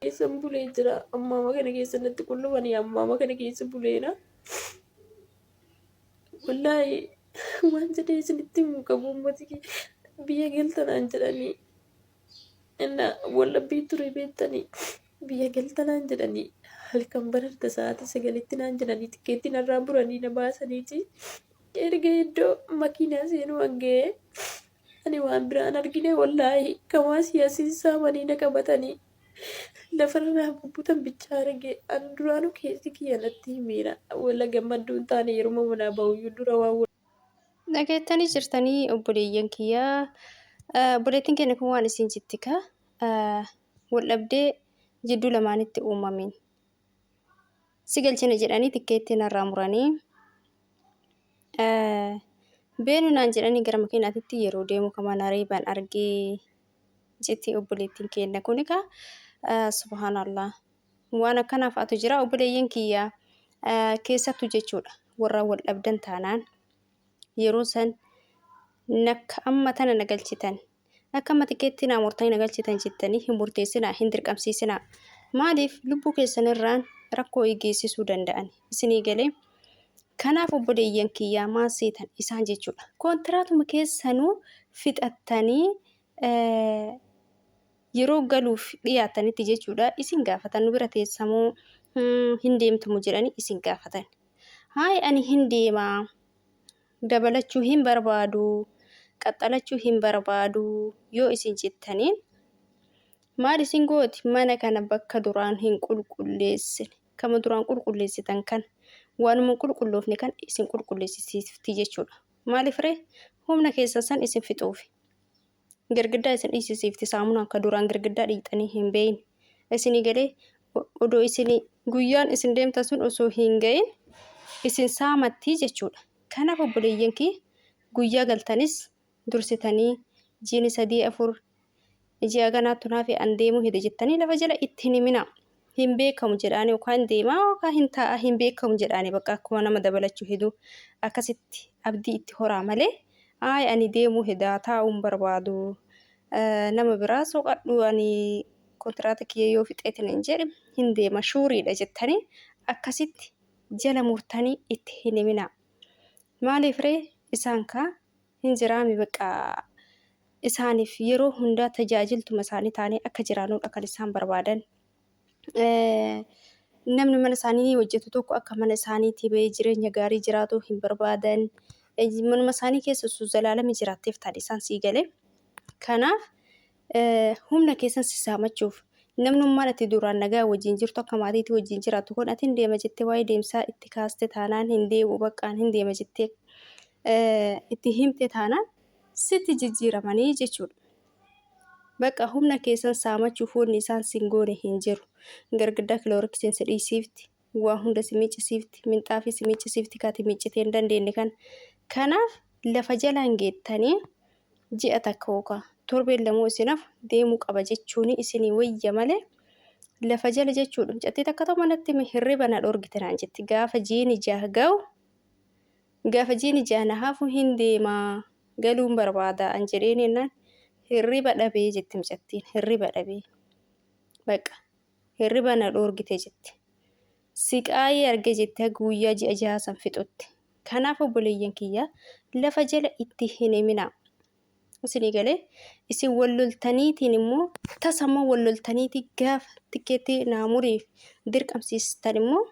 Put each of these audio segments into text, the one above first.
Keessan bulee jira. Ammaama kana keessa natti qullubanii ammaama kana keessa buleera. Wallaahi waan jedhee isinitti himu qabu uummati kee biyya galtanaan jedhanii inna wallabbii ture beektanii biyya galtanaan jedhanii halkan bararta sa'aatii sagalitti naan jedhanii tikkeetti narraa muranii na baasaniiti erga iddoo makiinaa seenuu hanga'ee Ani waan biraan argine wallaahi kan waa siyaasiin saamanii na qabatanii lafarra naa bubbutan bichaa arge an duraanuu keessi kiyya natti himiira wala gammadduu hin taane yeruma manaa ba'uyyuu dura waan Dhageettanii jirtanii obboleeyyan kiyya obboleettiin keenya kun waan isiin jetti ka wal dhabdee jidduu lamaanitti uumameen. si galchina jedhanii tikkeettii narraa muranii beenu naan jedhanii gara makiinaatitti yeroo deemu kama nareeban argee jetti obboleettiin keenna kun egaa subhaanallah waan akkanaa fa'atu jira obboleeyyan kiyya keessattu jechuudha warra wal dhabdan taanaan yeroo san nakka amma tana na galchitan akka amma tikeettii naa murtanii na galchitan jettanii hin murteessinaa hin dirqamsiisinaa maaliif lubbuu keessan irraan rakkoo geessisuu danda'an isinii galee kanaaf obboleeyyan kiyyaa maal seetan isaan jechuudha koontiraatuma keessanuu fixattanii yeroo galuuf dhiyaattanitti jechuudha isin gaafatan nu bira teessamoo hin deemtumu jedhanii isin gaafatan haay ani hin deema dabalachuu hin barbaadu qaxxalachuu hin barbaadu yoo isin jettaniin maal isin gooti mana kana bakka duraan hin qulqulleessine kama duraan qulqulleessitan kan waanuma qulqulloofne kan isin qulqulleessisiifti jechuudha maaliif ree humna keessan san isin fixuufi Girgiddaa isin dhiisisiifti saamunaa akka duraan girgiddaa dhiiqxanii hin beeyne. Isinii galee odoo isin guyyaan isin deemtan sun osoo hin gayin isin saamattii jechuudha. Kanaaf obboleeyyan kee guyyaa galtanis dursitanii jiini sadii afur ji'a ganaattu naafi an deemuu hede jettanii lafa jala itti hin himinaa. hin beekamu jedhaanii yookaan deemaa yookaan hin taa'a hin beekamu jedhaanii bakka akkuma nama dabalachuu heduu akkasitti abdii itti horaa malee aay ani deemuu hedaa taa'uun barbaadu nama biraa soqadhu ani kontiraata kiyya yoo fixeetin hin jedhe hin deema shuuriidha jettanii akkasitti jala murtanii itti hin himinaa maaliif ree isaan kaa hin jiraami beqqa isaanif yeroo hundaa tajaajiltuma isaanii taanee akka jiraanudha kan isaan barbaadan namni mana isaanii ni hojjetu tokko akka mana isaaniitii ba'ee jireenya gaarii jiraatu hin barbaadan manuma isaanii keessa osoo zalaalami jiraatteef taadhe isaan sii gale kanaaf humna keessan sissaamachuuf namnummaan ati duraan nagaa wajjin jirtu akka maatiitti wajjin jiraattu kun ati hin deema jettee waa'ee deemsaa itti kaaste taanaan hin deemu baqqaan hin deema jettee itti himte taanaan sitti jijjiiramanii jechuudha. Bakka humna keessan saamachuuf wanni isaan sin goone hin jiru. Gargiddaa kilooriksiin si dhiisiifti. waa hunda si miccisiifti minxaafii si miccisiifti kati miccitee hin dandeenye kana kanaaf lafa jalaan geettanii ji'a takka yookaan torbeen lamoo isinaaf deemuu qaba jechuun isinii wayya malee lafa jala jechuudha mucattii takka too manatti mi hirriba na dhorgite naan jetti gaafa jiini jaha ga'u gaafa jiini jaha na hafu hin deemaa galuun barbaada an jedheen jennaan hirriba dhabee jetti mucattiin hirriba dhabee baqa Hirriba na dhoorgite jette. Siqaayii arge jette haga guyyaa ji'a jahaa san fixutti. Kanaaf obboleeyyan kiyya lafa jala itti hin himinaa. Isinii galee isin wal loltaniitiin immoo tasa immoo wal loltaniitii gaafa tikkeettii naa muriif dirqamsiistan immoo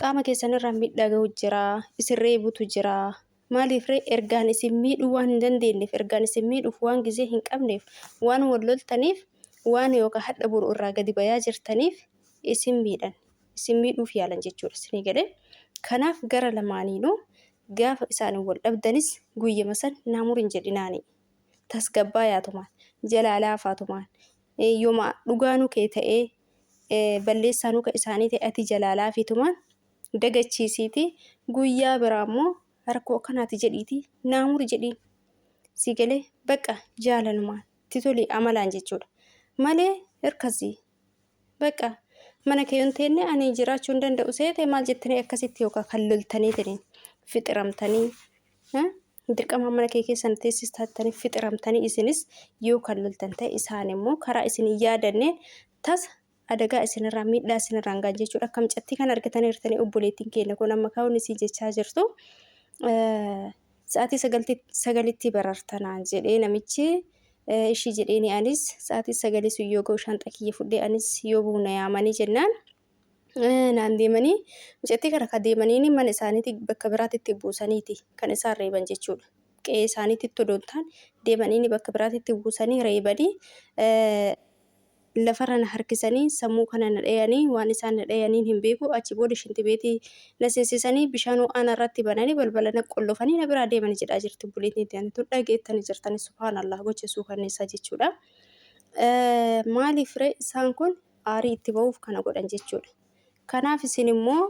qaama keessanirraa miidhaa gahu jira, isin reebutu jira, Maaliifree? Ergaan isin miidhuu waan hin dandeenyeef, ergaan isin miidhuuf waan gizee hin qabneef, waan wal loltaniif, waan yookaa hadha boru irraa gadi bayaa jirtaniif isin miidhan. Isin miidhuuf yaalan jechuudha. Isinii galee? Kanaaf gara lamaaniinuu gaafa isaan wal dhabdanis guyyama san naa murin jedhinaanii. Tasgabbaayaatumaan, jalaa laafaatumaan, yoma dhugaanuu kee ta'ee balleessaanuu ka isaanii ta'e ati jalaa laafiitumaan, dagachiisiiti guyyaa biraa immoo rakkoo akkanaati jedhiiti naa muri jedhiin si galee baqa jaalalumaan ti tolii amalaan jechuudha malee hirkasii baqa mana kee hin teenne ani jiraachuu hin danda'u seete maal jettanii akkasitti yookaan kan loltanii taniin fixiramtanii dirqama mana kee keessan teessis taattanii fixiramtanii isinis yoo kan loltan ta'e isaan immoo karaa isin hin yaadanneen tasa adagaa isinirraan miidhaa isinirraan ga'an jechuudha. Akka mucattii kana argitanii hirtanii obboleettiin keenya kun amma kaa'uun isii jechaa jirtu. Sa'aatii sagalitti barartanaan jedhee namichi ishii jedheeni anis sa'aatii sagalii sun yoo ga'u shaanxaa kiyya fudhee anis yoo bu'u na yaamanii jennaan naan deemanii mucattii kana kan deemaniin mana isaaniitti bakka biraatti itti buusaniiti kan isaan reeban jechuudha. Qe'ee isaaniitti todontaan deemaniin bakka biraatti itti buusanii reebanii lafarra na harkisanii sammuu kana na dhayanii waan isaan na dhayaniin hin beeku achi booda shintibeetii na seensisanii bishaan ho'aa narratti bananii balbala na qollofanii na biraa deemani jedhaa jirti obboleettiin ta'an tun dhageettani jirtani subhaanallah gocha suukanneessaa jechuudha. Maaliif ree isaan kun aarii itti ba'uuf kana godhan jechuudha. Kanaaf isin immoo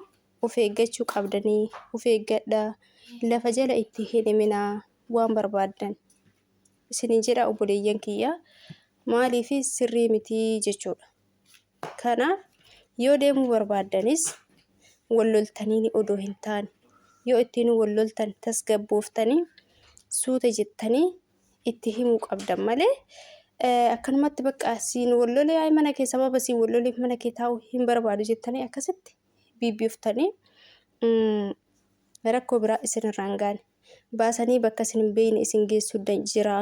of eeggachuu qabdanii of eeggadha lafa jala itti hin himinaa waan barbaaddan. isiniin jedha obboleeyyan kiyya maaliif sirrii mitii jechuudha. Kanaaf yoo deemuu barbaaddanis wal loltanii odoo hin taane yoo ittiin wal loltan tasgabbooftanii suuta jettanii itti himuu qabdan malee akkanumatti bakka siin wal lolee ay mana kee sababa siin wal loleef mana kee taa'uu hin barbaadu jettanii akkasitti biibbiyooftanii rakkoo biraa isinirraan gaane. baasanii bakka isin hin beekne isin geessu jira.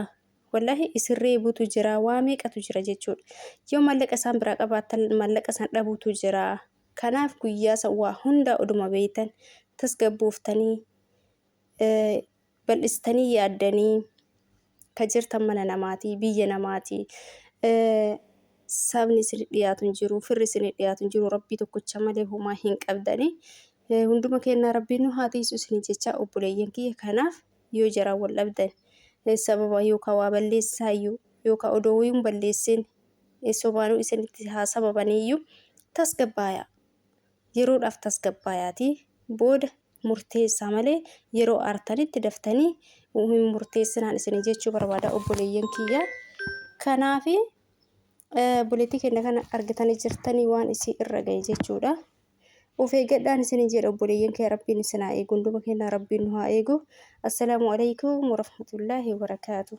Wallahi isin reebutu jira waa meeqatu jira jechuudha. Yoo mallaqa isaan biraa qabaattan mallaqa isaan dhabutu jira. Kanaaf guyyaa san waa hundaa oduma beektan tasgabbooftanii bal'istanii yaaddanii ka jirtan mana namaati, biyya namaati. Eh, sabni isin dhiyaatu hin jiru, firri isin dhiyaatu hin jiru, rabbii tokkicha malee homaa hin qabdani. Eh, hunduma kennaa rabbiin nu haa tiisu isin jecha obboleeyyan kiyya kanaaf yoo jaraa wal dhabdan eh, sababa yookaan waa balleessaayyuu yookaan odoo wayuun balleessin eh, sobaanuu isinitti haa sababaniyyuu tasgabbaaya. Yeroodhaaf tasgabbaayaatii booda murteessaa malee yeroo aartanitti daftanii hin murteessinaan isin jechuu barbaada obboleeyyan kiyya. Kanaaf buleetii keenya kana argitanii jirtanii waan isii irra ga'e jechuudha. Of eeggadhaan isin jedha obboleeyyan kiyya rabbiin isin haa eegu hunduma keenya rabbiin nu haa eegu. Assalaamu alaikum warahmatullaahi wabarakaatuh.